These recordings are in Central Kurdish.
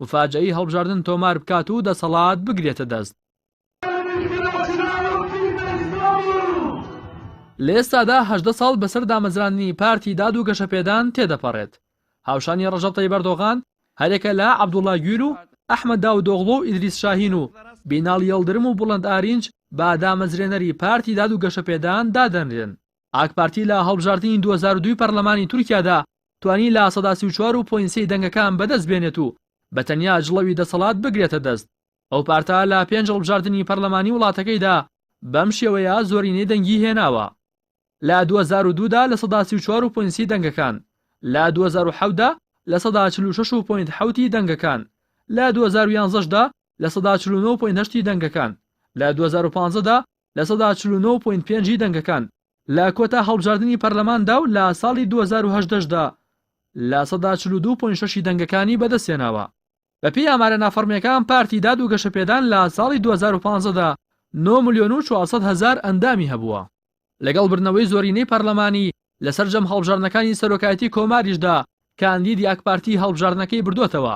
مفاجەئی هەڵبژاردن تۆمار بکات و دەسەڵات بگرێتە دەست. لە ئێستادا هەژدە ساڵ بەسەر دامەزراندنی پارتی داد و گەشەپێدان تێدەپەڕێت. هاوشانی ڕەژەب تەیب ئەردۆغان هەریەکە لە عەبدوڵڵا گویل و ئەحمەد داودئۆغڵو و ئیدریس شاهین و بیناڵ یڵدرم و بوڵەند ئارینج بە دامەزرێنەری پارتی داد و گەشەپێدان دادەنرێن. ئاکپارتی لە هەڵبژاردنی دوو هەزار و دوو پەرلەمانی تورکیادا توانی لە سەدا سی و چوار و پۆینت سێ ی دەنگەکان بەدەست بێنێت و بە تەنیا جڵەوی دەسەڵات بگرێتە دەست. ئەو پارتە لە پێنج هەڵبژاردنی پەرلەمانی وڵاتەکەیدا بەم شێوەیە زۆرینەی دەنگی هێناوە. لە دوو هەزار و دوو دا لە سەدا سی و چوار و پۆینت سی دەنگەکان، لە دوو هەزار و حەوت دا لە سەدا چل و شەش و پۆینت حەوت ی دەنگەکان، لە دوو هەزار و یانزە دا لە سەدا چل و نۆ و پۆینت هەشت ی دەنگەکان، لە دوو هەزار و پازدە دا لە سەدا چل و نۆ پۆینت پێنج ی دەنگەکان لە کۆتا هەڵبژاردنی پەرلەماندا و لە ساڵی دوو هەزار و هەژدە شدا لە سەدا چل و دوو پۆینت شەش ی دەنگەکانی بەدەستهێناوە. بەپێی ئامارە نافەڕمییەکان پارتی داد و گەشەپێدان لە ساڵی دوو هەزار و پازدە دا نۆ ملیۆن و چوار سەد هەزار ئەندامی هەبووە، لەگەڵ بردنەوەی زۆرینەی پەرلەمانی لە سەرجەم هەڵبژاردنەکانی سەرۆکایەتی کۆماریشدا کاندیدی ئاکپارتی هەڵبژاردنەکەی بردۆتەوە.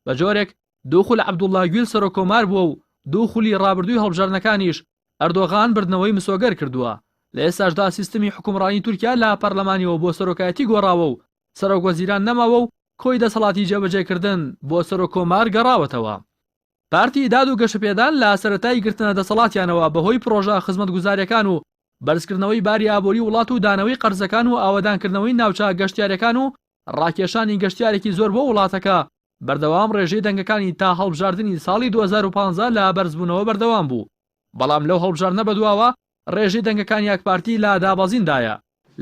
بە جۆرێک دوو خول عەبدوڵڵا گویل سەرۆک کۆمار بووە و دوو خولی ڕابردووی هەڵبژاردنەکانیش ئەردۆغان بردنەوەی مسۆگەر کردووە، لە ئێستاشدا سیستمی حوکمڕانی تورکیا لە پەرلەمانیەوە بۆ سەرۆکایەتی گۆڕاوە و سەرۆک وەزیران نەماوە و کۆی دەسەڵاتی جێبەجێکردن بۆ سەرۆک کۆمار گەڕاوەتەوە. پارتی داد و گەشەپێدان لە سەرەتای گرتنە دەسەڵاتیانەوە بە هۆی پڕۆژە خزمەتگوزاریەکان و بەرزکردنەوەی باری ئابووری وڵات و دانەوەی قەرزەکان و ئاوەدانکردنەوەی ناوچە گەشتیارەکان و ڕاکێشانی گەشتیارێکی زۆر بۆ وڵاتەکە، بەردەوام ڕێژەی دەنگەکانی تا هەڵبژاردنی ساڵی دوو هەزار و پازدە لە بەرزبوونەوە بەردەوام بوو، بەڵام لەو هەڵبژاردنە بەدواوە ڕێژەی دەنگەکانی ئاکپارتی لە دابەزیندایە.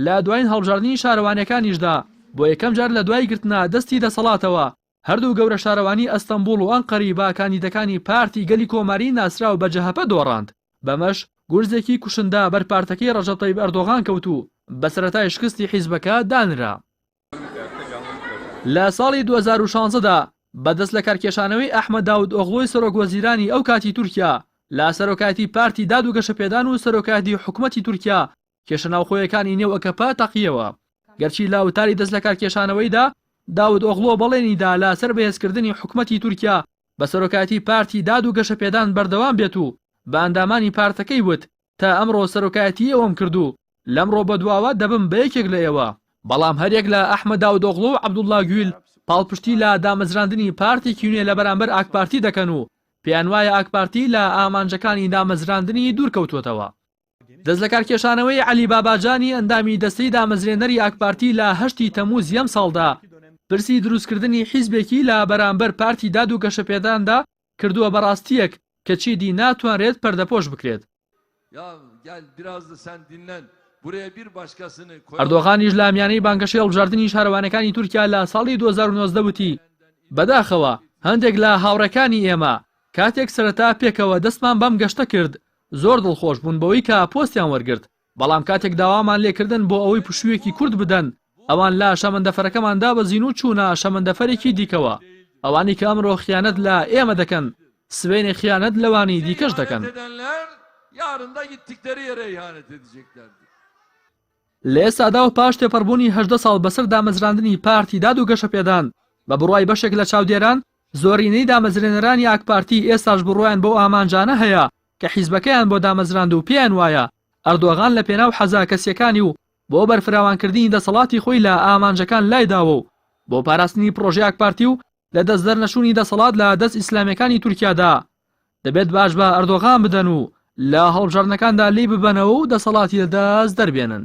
لە دوایین هەڵبژاردنی شارەوانییەکانیشدا بۆ یەکەم جار لە دوای گرتنە دەستی دەسەڵاتەوە هەردوو گەورە شارەوانی ئەستەنبوڵ و ئەنقەری بە کاندیدەکانی پارتی گەلی کۆماری ناسراو بە جەهەپە دۆڕاند، بەمەش گورزێکی کوشندە بەر پارتەکەی ڕەجەب تەیب ئەردۆغان کەوت و بە سەرەتای شکستی حیزبەکە دانرا. لە ساڵی دوو هەزار و شازدە دا بە دەستلەکارکێشانەوەی ئەحمەد داود ئۆغڵۆی سەرۆک وەزیرانی ئەو کاتی تورکیا لە سەرۆکایەتی پارتی داد و گەشەپێدان و سەرۆکایەتی حکومەتی تورکیا کێشە ناوخۆیەکانی نێو ئەکەپە تەقییەوە، گەرچی لە وتاری دەستلەکارکێشانەوەیدا داود ئۆغلۆ بەڵێنی دا لەسەر بەهێزکردنی حکومەتی تورکیا بە سەرۆکایەتی پارتی داد و گەشەپێدان بەردەوام بێت و بە ئەندامانی پارتەکەی وت تا ئەمڕۆ سەرۆکایەتی ئێوەم کرد و لەمڕۆ بەدواوە دەبم بە یەکێک لە ئێوە. بەڵام هەریەک لە ئەحمەد داودئۆغڵو و عەبدوڵڵا گویل پاڵپشتی لە دامەزراندنی پارتێکی نوێ لە بەرامبەر ئاکپارتی دەکەن و پێیانوایە ئاکپارتی لە ئامانجەکانی دامەزراندنی دوورکەوتووەتەوە. دەستلەکارکێشانەوەی عەلی باباجانی ئەندامی دەستەی دامەزرێنەری ئاکپارتی لە هەشتی تەموزی ئەمساڵدا، پرسی دروستکردنی حیزبێکی لە بەرامبەر پارتی داد و گەشەپێداندا کردووە بە راستییەک کە چیدی ناتوانرێت پەردەپۆش بکرێت. ئەردۆغانیش لە میانەی بانگەشەی هەڵبژاردنی شارەوانیەکانی تورکیا لە ساڵی دوو هەزار و نۆزدە وتی، بەداخەوە هەندێک لە هاوڕێکانی ئێمە کاتێک سەرەتا پێکەوە دەستمان بەم گەشتە کرد زۆر دڵخۆش بوون بەوەی کە پۆستیان وەرگرت، بەڵام کاتێک داوامان لێکردن بۆ ئەوەی پشوویەکی کورت بدەن، ئەوان لە شەمەندەفەرەکەمان دابەزین و چوونە شەمەندەفەرێکی دیکەوە. ئەوانی کە ئەمڕۆ خیانەت لە ئێمە دەکەن، سبەینێ خیانەت لەوانی دیکەش دەکەن. لە ئێستادا و پاش تێپەڕبوونی هەژدە ساڵ بەسەر دامەزراندنی پارتی داد و گەشەپێدان، بە بڕوای بەشێک لە چاودێران، زۆرینەی دامەزرێنەرانی ئاکپارتی ئێستاش بڕوایان بەو ئامانجانە هەیە کە حیزبەکەیان بۆ دامەزراند و پێیان وایە ئەردۆغان لە پێناو حەزە کەسییەکانی و بۆ بەرفراوانکردنی دەسەڵاتی خۆی لە ئامانجەکان لای داوە و بۆ پاراستنی پڕۆژەی ئاکپارتی و لە دەستدەرنەچوونی دەسەڵات لە دەست ئیسلامییەکانی تورکیادا دەبێت باج بە ئەردۆغان بدەن و لە هەڵبژاردنەکاندا لێی ببەنەوە و دەسەڵاتی لە دەست دەربێنن.